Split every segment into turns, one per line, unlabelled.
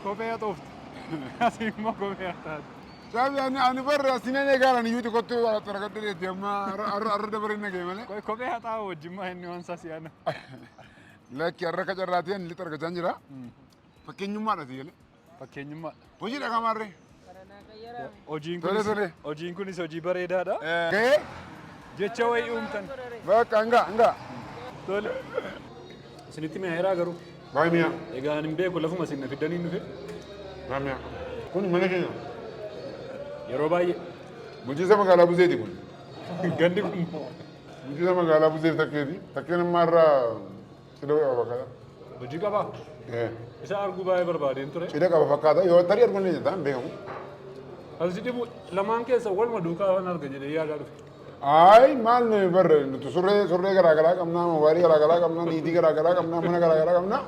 Kophee haxooftu. Asi immoo kophee haxaatu. Saabi ani ani
barra asinan eegaalan iyyuuti kottu xaragadde deetti amma arra arra dabareen nagee malee. Qoy kophee haxaa'u wajjin
maa inni waan isaa si'aana.
Lakki arra akka carraatiin lixa argachaan jira. Fakkeenyummaadha si galee. Fakkeenyummaa.
Hojii dhaqaa maarree.
Hojiin Tole, kunis tole.
hojiin kunis hojii bareedaadha. Gahee? Jecha wayii uumtan. Bakka hanga hanga.
Tole.
Isinitti mi'a heeraa garuu. Baay'ee mi'a. Egaa
ani hin beeku lafuma
isin na fiddanii dhufe. Baay'ee mi'a.
Kun mana keenya.
Yeroo baay'ee. Bulchiinsa magaalaa
Buseeti kun. Gandi
kun. Bulchiinsa
magaalaa Buseef takkeeti. Takkeen ammaa irraa Cidha qaba fakkaata. Hojii qabaa?
Eh, Isa arguu baay'ee barbaadeen ture. Cidha qaba fakkaata. Yoo tarii
arguun ni jedhaan beekamu. Kan si
dhibu lamaan keessa waluma duukaa waan arga jedhee yaadaa dhufe. Ayi maal
nuyi barre nuti surree surree garaa garaa qabnaa mobaalii garaa garaa qabnaa niitii garaa garaa qabnaa mana garaa garaa qabnaa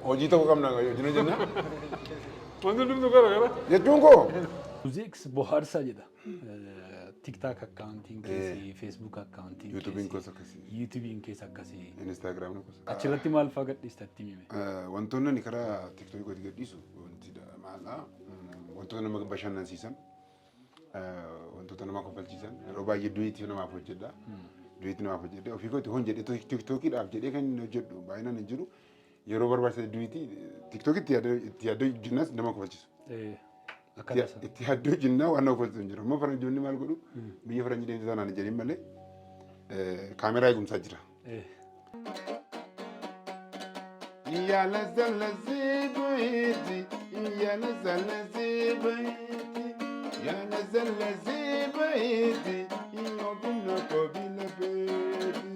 hojii ta'uu qabna hojii ni jenna
Wanti hundumtu gara gara. jechuun koo.
Muuziks
bohaarsaa jedha. tiktak akkaawuntiin keessi feesbuuk akkaawuntiin Yuutubiin koos akkasii.
yuutubiin keessa akkasii
Instagram koos.
achirratti maal fa'aa
gadhiistatti mime Eh, Wantoonni ani karaa
tiktookii gadi gadhiisu wanti da- maalaa mm, wantoota nama bashannansiisan eh, wantoota nama kofalchiisan yeroo baay'ee duwiitii namaaf hojjedha. Duwiitii namaaf hojjedha ofii kooti hon jedhee tiktookii dhaaf jedhee kan hin hojjedhu baay'inaan hin jiru. Yeroo barbaachisa hedduuti tiktok itti yaadda itti yaadda hojjennas nama kofalchisu. Eh, Itti Akkana ya- sana. itti yaadda hojjennaa waan nama kofalchisu hin jiru. Amma faranjoonni maal godhu biyya faranjii deemte sanaan hin jedhin malee eh, kaameraa eegumsaa jira. Eh, Yala zala zibaiti, yala zala zibaiti, yala zala zibaiti, ino bino kobina beti.